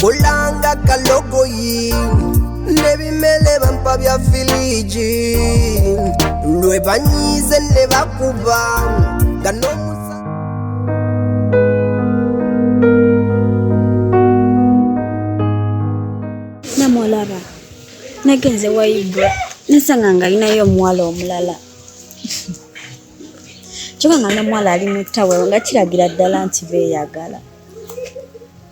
kolanga kalogoyi nebimele bampa bya filiji lwe banyize ne bakuba nga n'omusa namulaba nagenze waibwe nasanga nga alinayo omuwala omulala kyoka nga nomuwala ali mutawe nga kiragira ddala nti beyagala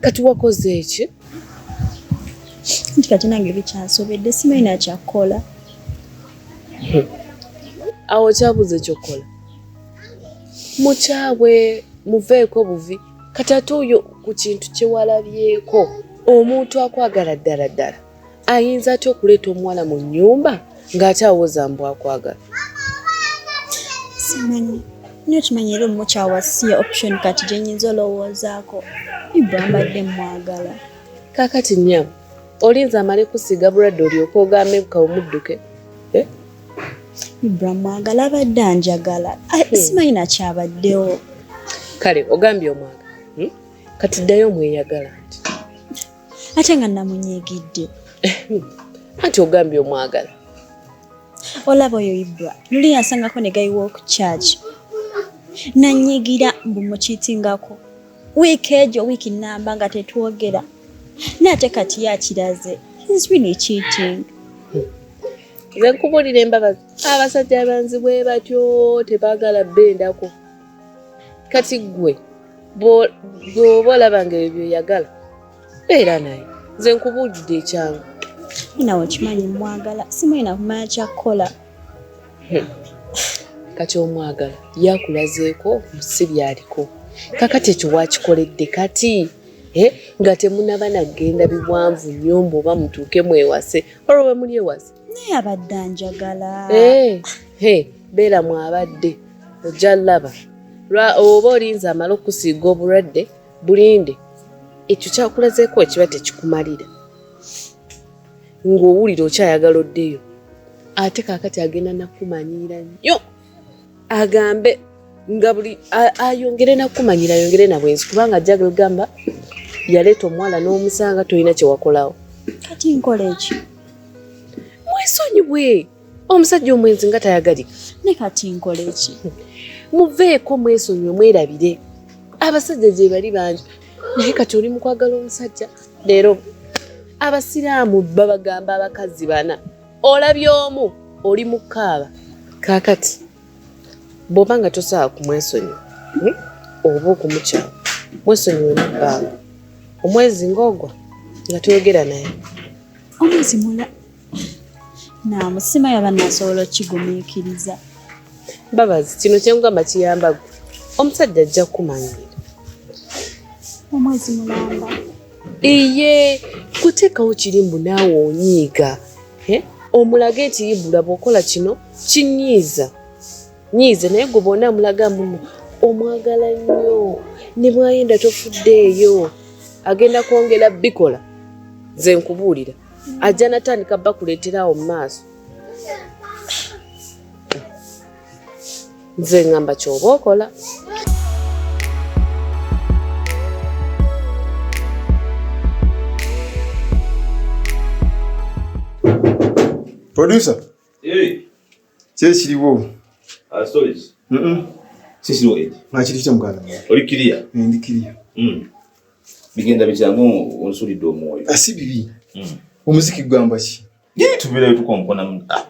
kati wakoze eki nti kati nange bikyansobedde simanyi nakyakukola awo kyabuze ekyokukola mukyawe muveeko buvi kati ate oyo ku kintu kyewalabyeko omuntu akwagala ddala ddala ayinza atya okuleeta omuwala mu nnyumba ng'ate awoza mbu akwagala simanyi nyo kimanyi era omukyawa si option kati gyenyinza olowoozaako ibwa mbadde mwagala kakati nyabo olinza amale kusiiga bulwadde olyoka ogambe buka omudduke eh? ibra mwagala abadde anjagala ah, hmm. simanyi nakyabaddewo kale ogambye omwagala hmm? kati ddayo omweyagala ate nga namunyigidde eh, hmm. anti ogambye omwagala olaba oyo ibra luli yasangako ne gayi walk charge nanyigira mbu mukitingako wiiki egyo wiiki namba nga tetwogera naye ate kati yakiraze is really cheating nze nkubulira embabazi abasajja abanzi bwe batyo tebagala bendako kati gwe bwoba olaba nga ebyo byoyagala beera naye nze nkubuulidde ekyangu nawe okimanyi mwagala simuyina kumanya kyakukola hmm. kati omwagala yakulazeeko si byaliko kakati ekyo wakikoledde kati eh, nga temunaba nagenda biwanvu nnyo mbu oba mutuuke mwewase olwo wemuli ewase naye abadde anjagala eh, beera mwabadde ojja laba oba olinza amala okusiiga obulwadde bulinde ekyo kyakulazeeko ekiba tekikumalira ng'owulira okyayagala oddeyo ate kakati agenda nakumanyiira nnyo agambe nga buli ayongere nakumanyira ayongere nabwenzi kubanga ajja gamba yaleeta omuwala n'omusanga tolina kyewakolawo kati nkola ekyo mwesonyiwe omusajja omwenzi nga tayagalika ne kati nkola eki muveeko mwesonyiwe mwerabire abasajja gye bali bangi naye kati oli mukwagala omusajja leero abasiraamu babagamba abakazi bana olabye omu oli mukaaba kakati bwoba nga tosobola kumwesonyiwa hmm? oba okumukyala mwesonyiwe mubbanga omwezi ngaogwa nga toyogera naye omwezi namusima yaba nasobola okigumiikiriza babazi kino kyengamba kiyamba gwe omusajja ajja kukumanyiira omwezi mulamba iye kuteekawo kiri mbu naawe onyiiga omulage nti ibula bwokola kino kinyiiza nyiize naye gwe bona amulaga muno omwagala nnyo ne bwayenda tofuddeeyo agenda kwongera bikola nze nkubuulira ajja natandika bakuleeterawo mu maaso nze ngamba kyoba okola producer kyekiriwo ah, nakirikita muganda oli kiriya eh, ndi kiriya hmm. bigenda bityamu onsulidde omwoyo ah, si bibi hmm. omuziki gugamba ki tubirayo tukonkona ah,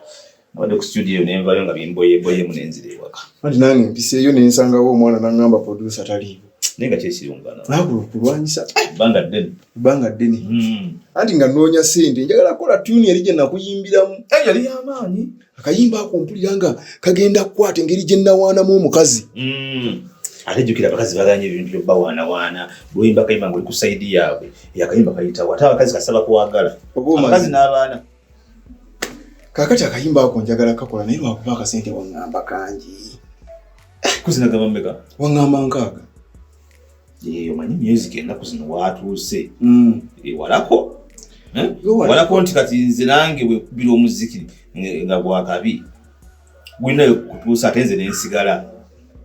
wade ku studio nenvayo nga bimboyeboyemu nenzira ewaka anti nange mpiseeyo nensangawo omwana nangamba produsa taliiwo naye nga kyekirungakulwanyisa ebbanga eh, ddene ebbanga ddene hmm. anti nga noonya sente njagala kukola tuni eri gye nakuyimbiramu eh, yali yamaanyi akayimba ako mpulira nga kagenda kukwata engeri gye nawaanamu omukazi hmm. ate jjukira abakazi baganye ebintu byobawaanawaana lwoyimba akayimba nga oli ku saidi yaabwe yakayimba kayitawo ate abakazi kasaba kwagala abakazi n'abaana kakati akayimba ako njagala kakola naye lwakuba akasente wangamba kangi kuzina gaba meka wangamba nkaaga eh, omanyi music enaku zino watuuse mm. eh, walako eh? walako nti kati nze nange wekubira omuziki nga gwakabi gulinayo kutuusa ate nze nensigala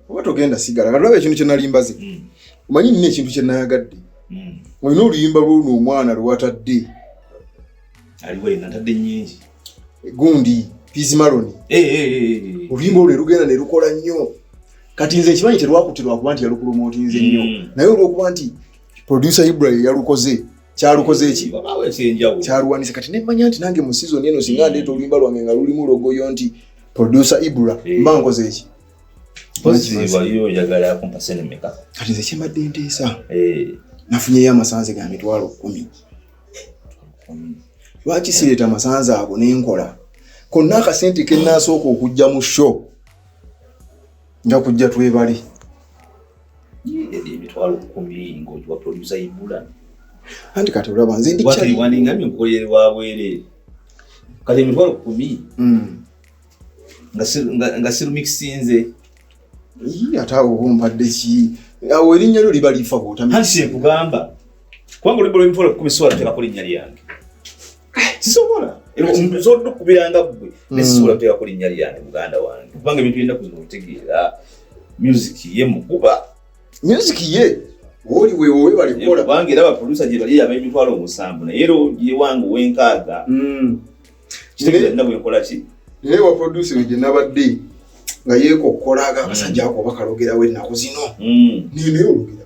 oba togenda sigala katulaba ekintu kyenalimbaze mm. omanyi nina ekintu kyenayagadde mm. olina oluyimba lwono omwana lwewatadde aliwo yena ntadde nyingi gundi pizi maloni eh, eh, eh, oluyimba olwe lugenda ne lukola nnyo kati nze ekimanyi terwakutirwa kuba nti yalukulumotinze nnyo hmm. naye olwokuba nti producer ibrahim yalukoze kyalukoze eki kyaluwanise kati nemanya nti nange mu sizoni eno singa hmm. ndeeta oluyimba lwange nga lulimu logoyo nti producer ibra mba nkoze eki kati nze kyembadde nteesa nafunyeyo amasanze ga mitwalo kumi lwaki sireeta masanze ago nenkola konna akasente kenasooka okujja mu sho nja kujja twebale emitwalo kumi ngaogiwa produsa ibula anti kati olaba nze ndiwandingamye mukolere wa bwerere kati emitwalo kumi hmm. nga sirumikisinze ate awo ompadde ki awo erinnya lyo liba lifa bwotamikugamba Kubanga oluyimba lw'emitwalo ekkumi sisobola luteekako linnya lyange. Sisobola. Nsobola okubiranga ggwe naye sisobola luteekako linnya lyange muganda wange kubanga ebintu byenda kuzina obitegeera music ye mukuba. Music ye oli wewe webale kukola kubanga era baproducer gye bali ab'emitwalo omusanvu naye era ye wange ow'enkaaga. Hmm. Kitegeeza nina bwe nkola ki? Naye baproducer gye nabadde nga yeekokkola ag'akasajja ako oba kalogerawo ennaku zino. Nina hmm. eyologera.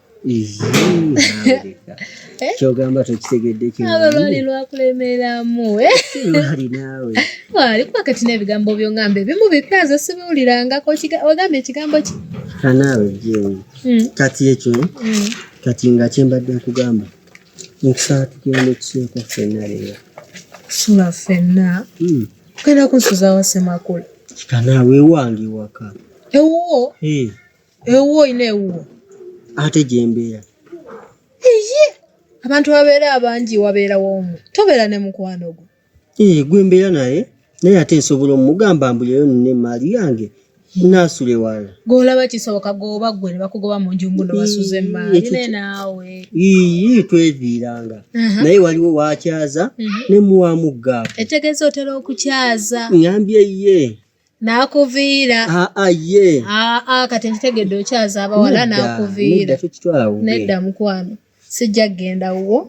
Eh? kyogamba tokitegeddeolwali lwakulemeramu eh? wali kuba kati n'ebigambo byongamba ebimu bipya nze sibiwulirangako ogamba ekigambo ki kanaawe jewe hmm. kati ekyo hmm. kati nga kyembadde nkugamba nkusaba tugenda okusieko fenna leero sula fenna hmm. kugenda kunsuzawasemakula kanaawe ewange ewaka ewuwo ewuwo olina ewuwo ate gyembeera eye abantu babeera abangi wabeerawo omu tobeera ne mukwano gwo ee gwe mbeera naye naye ate nsobola omugamba mbuleyo nina emaali yange nasula ewala golaba kisoboka goba gwe nebakugoba mu nju mbuno basuze emaali ne naawe ii tweviiranga naye waliwo wakyaza mhm. nemuwamuggaako etegeeza otera okukyaza ngambye ye nakuviira ah, ah, ye ah, kati nkitegedde okyaza abawala nakuviira nedda mukwano sijja kugenda wuwo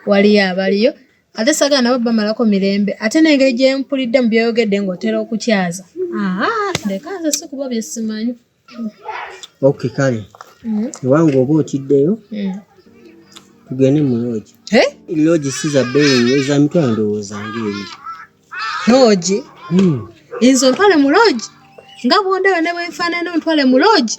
waliyo abaliyo ate sagala nabo bamalako mirembe ate nengeri gyempulidde mu byoyogedde ngaotera okukyaza leka nze sikuba byesimanyi ok kale ewange mm. oba otiddeyo mm. tugende mu loogi loogi si za bbeeyi eza mitwalo ndowooza ngaeri loogi mm. enzo ntwale mu loogi nga bwondaba ne bwenfaanana ontwale mu loogi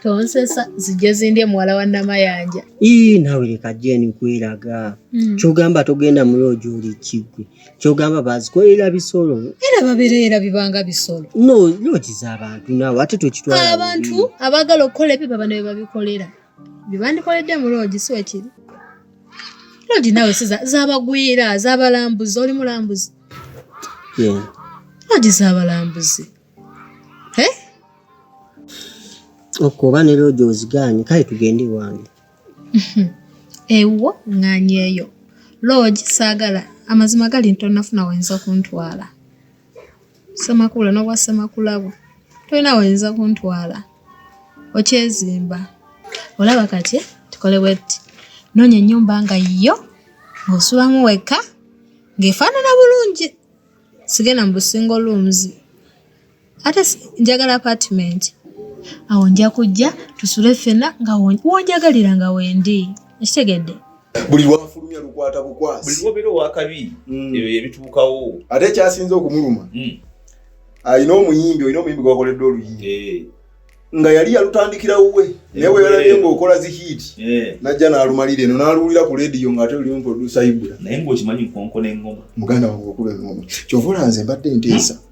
tonsesa zijja zindye muwala wa namayanja ii nawe leka jeni kweraga kyogamba togenda mu loogi oli kiggwe kyogamba bazikolera bisolo era babereera bibanga bisolo no nokiza abantu naawe ate tokitwala abantu abaagala okukola ebyo baba nawe babikolera byebandikoledde mu loogi si wekiri loogi naawe si zabagwira zabalambuzi oli mulambuzi loogi zabalambuzi okuba ne loogi ozigaanye kale tugende ewange ewuwo ŋŋanyeeyo loogi saagala amazima gali ntonafuna wayinza kuntwala semakula n'obwa semakulabo tolina wayinza kuntwala okyezimba olaba kati tukole bwetti noonya ennyumba nga yo ng'osulamu wekka ng'efaanana bulungi sigenda mu busingo luumzi ate njagala apartment awo nja kujja tusule ffena nga wonjagalira nga wendi ekitegedde buli lwafulumya lukwata bukwasi buli lwobeera owakabi mm. ebyo yebituukawo ate ekyasinze okumuluma mm. alina omuyimbi olina omuyimbi gwakoledde oluyimbi eh. nga yali yalutandikira wuwe naye weyalabye ngaokola zihit eh. najja nalumalira eno naluwulira ku lediyo ngaate lulimu produsa ibula naye ngaokimanyi nkonkona engoma muganda wange okuba engoma kyovola nze mbadde nteesa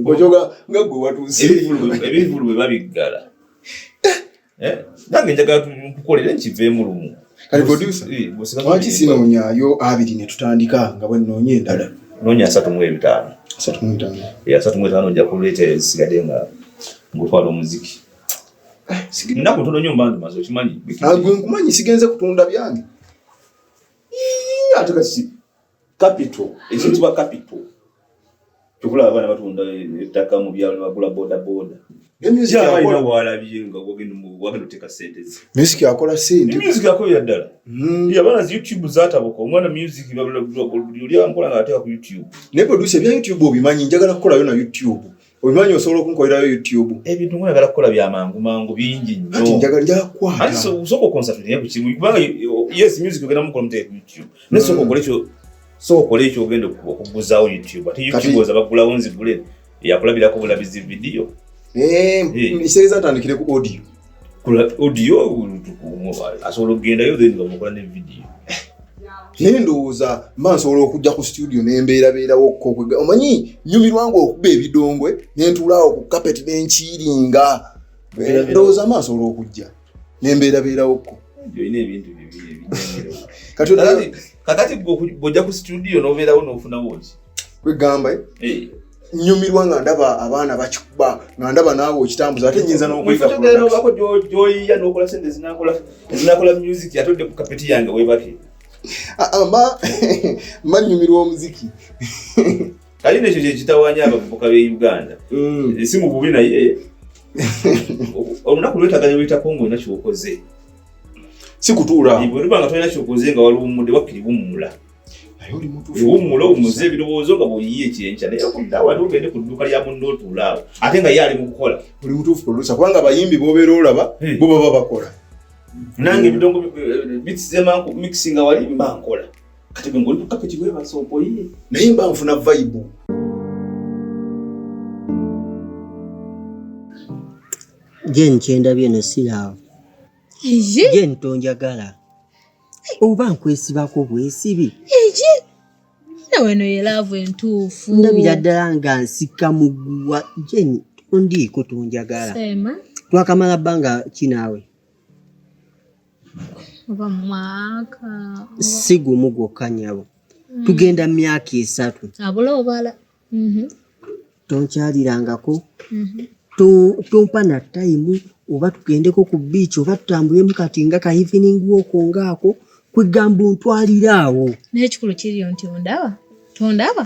Ngojoga nga gwe watuuse. Ebivulu bwe babiggala. Eh? Nange njagala tukukolere nkiveemu lumu. Kati producer. Eh, Lwaki sinonyayo abiri ne tutandika nga bwe nnoonya endala. Noonya asatu mu ebitaano. Asatu mu ebitaano. Eh, asatu mu ebitaano nja kuleeta esigade nga ngutwala omuziki. Nnaku ntono nnyo mbandu maze okimanyi. Agwe ah, nkumanyi sigenze kutunda byange. Ate kati capital ekiyitibwa capital kyokula abaana batunda ettaka mu byalo bagula boda boda music akola sente music akola ya ddala hmm. abaana zi youtube zatabuka omwana music babula buli ankola nga ateka ku youtube naye producer bya youtube obimanyi njagala kukola yo na youtube Obimanyi osobola okunkolerayo YouTube. Ebintu mwe nagala kukola bya mangu mangu bingi nnyo. Ati njagala nja kwa. Ati so usoko concert ne ku kimu. Kubanga yes music ogenda mukola muteke ku YouTube. Ne so ko kolecho so ko kolecho ogenda okuguza ku YouTube. Ati YouTube oza bagula wonzi gule. Ya kulabira ko bulabizi video. Eh, hey. Eh. Iseriza tandikire ku audio. kola audio asobola okugendayo then bamukola ne video naye ndowooza mba nsobola okujja ku studio nembeerabeerawokko omanyi nyumirwanga okuba ebidongwe nentuulaawo ku kapeti nenkiiringa ndowooza mba nsobola okujja nembeerabeerawokko kakati bwojja ku studio nobeerawo nofunawo ki kwegamba eh? eh. nyumirwa nga ndaba abaana bakikuba nga ndaba naawe okitambuza ate nyinza nokuigako gyoyiya nokola sente ezinakola music atodde ku kapeti yange webake ah, ah, ma ma nyumirwa omuziki kali nekyo kyekitawanya abavubuka be uganda mm. eh, si mububi naye olunaku lwetaganya luyitako ngaolina kyokoze si kutuula bwetubanga tolina kyokoze nga waluwumudde wakkiri bumumula naye oli mutuufu wumula owumuze ebirowoozo nga bwoyiye ekyenkya naye okudda wali ogende ku dduuka lya munna otuulaawo ate nga ye ali mu kukola oli mutuufu producer kubanga abayimbi bobeera olaba bo baba bakola nange ebidongo eh, bitsizemaku mixinga wali mba nkola kati bwe ngoli kukapeti bwebasa okoyiye naye mba nfuna vaibu je nkyendabye no silaavu je ntonjagala oba nkwesibako bwesibi eki naweno yelaavu entuufu ndabira ddala nga nsika muguwa jeni ondiiko tunjagala twakamala bbanga kinaawe oba mwaka si gumu gwokka nyabo hmm. tugenda myaka esatu abula obala mm-hmm. tonkyalirangako mm-hmm. tompa na tayimu oba tugendeko ku biiki oba tutambulemu kati nga ka evening woko ngaako kwegamba ontwalira awo naye ekikulu kiriyo nti ondaba tondaba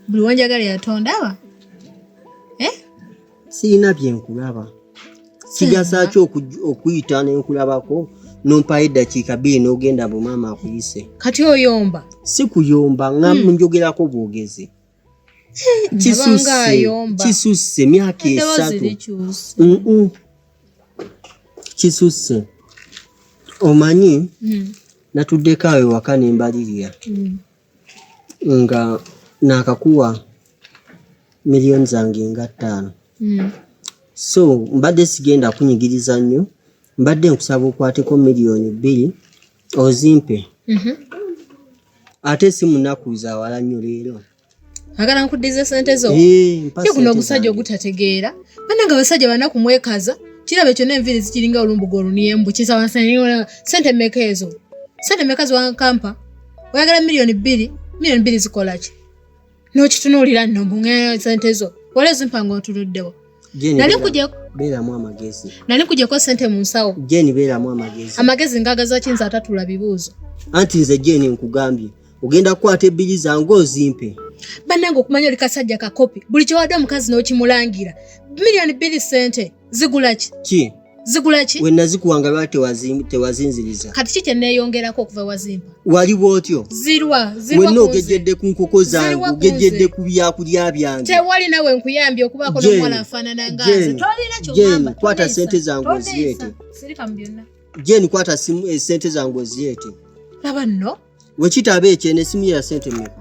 buli wanjagala yatonda aba eh? sirina byenkulaba kigasa ki okuyita nenkulabako nompayo eddakiika bbiri n'ogenda mbu maama akuyise kati oyomba si kuyomba nga hmm. njogerako bwogezi kisusse myaka esatu kisusse omanyi hmm. natuddeko awo ewaka nembalirira hmm. nga naakakuwa miliyoni zange nga ttaano hmm. so mbadde sigenda kunyigiriza nnyo mbadde nkusaba okwateko miliyoni bbiri ozimpe mhm. ate si munaku zawala nnyo leero agala nkuddiza sente zo kuno ogusajja ogutategeera bana nga abasajja banaku mwekaza kiraba ekyo nenviiri zikiringa olumbuga oluniyembu kisawa sente meka ezo sente meka ziwankampa oyagala miliyoni bbiri miliyoni bbiri zikola ki n'okitunuulira nno mbuŋeyo sente zo wala ezimpa nga otuluddewo nali nkujeko beeramu amagezi nali nkujeko sente mu nsawo jeni beeramu amagezi amagezi ngagazaki nze atatula bibuuzo anti nze jeni nkugambye ogenda kukwata ebbiri zange ozimpe bannange okumanya oli kasajja kakopi buli kyewadde omukazi n'okimulangira miliyoni bbiri sente zigula ki ki zigula ki wenna zikuwa nga lwa tewazinziriza kati ki kye neeyongerako okuva wazimpa wali bwotyo zirwa wenna ogejjedde ku nkoko zange ogejjedde ku byakulya byange tewali nawe nkuyambye okubaako n'omuwala afaanana ngaze tolina kyogamba kwata sente zange ozireete sirika mu byonna jeni kwata simu esente eh, zange ozireete laba nno Wekitaba ekyo eno esimu ya sente mmeka?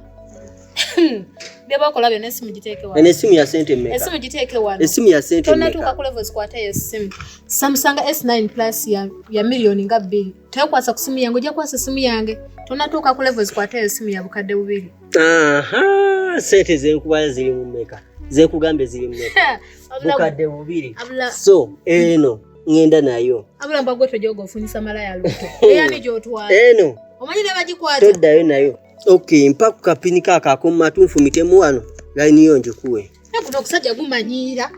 Byebakola byonna esimu giteeke wano. Eno esimu ya sente mmeka? Esimu giteeke wano. Esimu ya sente mmeka? Tonnatuuka ku level zikwata eyo esimu. Samsung S9 Plus ya, ya miliyoni nga bbiri. Tekwasa ku simu yange, ojja kwasa simu yange. Tonnatuuka ku level zikwata eyo esimu ya bukadde bubiri. Aha, sente zenkuba ziri mu mmeka? Zekugambye ziri mmeka? Bukadde bubiri. So, eno. Eh, ngenda nayo abula mba gwe tojoga ofunyisa malaya luto eyani gyotwala eno omanyi ne bagikwata toddayo nayo ok mpa ku kapini ka kakomatu nfumitemu wano layini yo ngikuwe nakuno okusajja gumanyiira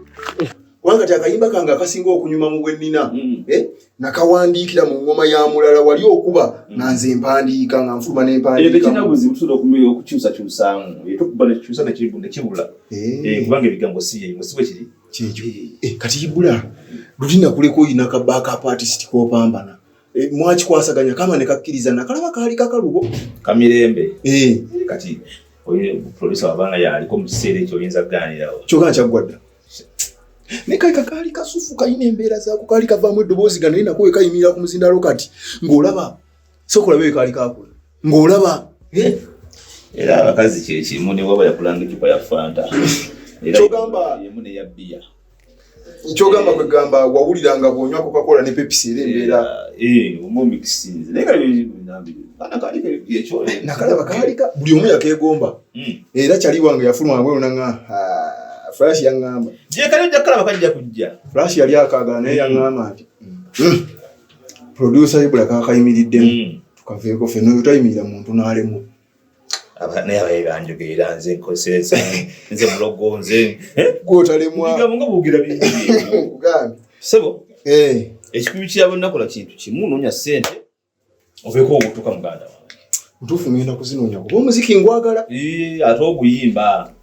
kubanga ti akayimba kange akasinga okunyuma mu bwennina mm. eh, nakawandiikira mu ngoma ya mulala wali okuba mm. nga nze mpandiika nga nfuluma nempandiikaokukyusakyusaamu eh, eh. kubanga ebigambo si yeimu si bwe kiri kyekyo eh, kati ibula lutina kuleka oyina ka backup artist kopambana eh, mwakikwasaganya kama nekakkiriza nakalaba kaali kakalubo kamirembe eh. kati oyo producer wabanga yaliko mu kiseera ekyo oyinza kuganirawo kyoka kyaggwadda naye kali kakaali kasufu kalina embeera zaako kaali kavaamu eddoboozi ga naye nako wekayimirira ku muzindaalo kati ng'olaba sokolaba eyo kaali kakula ng'olaba era abakazi kyekimu ne waba yakulanga ecupa ya fanta emu neya bbiya nkyogamba kwe gamba wawulira nga bwonywa kokakola ne pepisi era embeera nakalaba kaalika buli omu yakeegomba hmm. era kyali wange yafuluma wabweru naga flash yaŋŋamba gyekali ojja kukalaba kajja kujja flash yali akaagala naye yaŋŋamba nti hmm. Hmm. producer ibula kakayimiriddemu tukaveeko ffe noyo tayimirira muntu n'alemu naye abaye banjogeera nze nkozesa nze mulogo nze gwotalemwabugera bigambye sebo eh. ekikubi kyabonnakola kintu kimu noonya sente oveeko ogutuka muganda wange ntuufu ngenda kuzinoonya kuba omuziki ngwagala ate oguyimba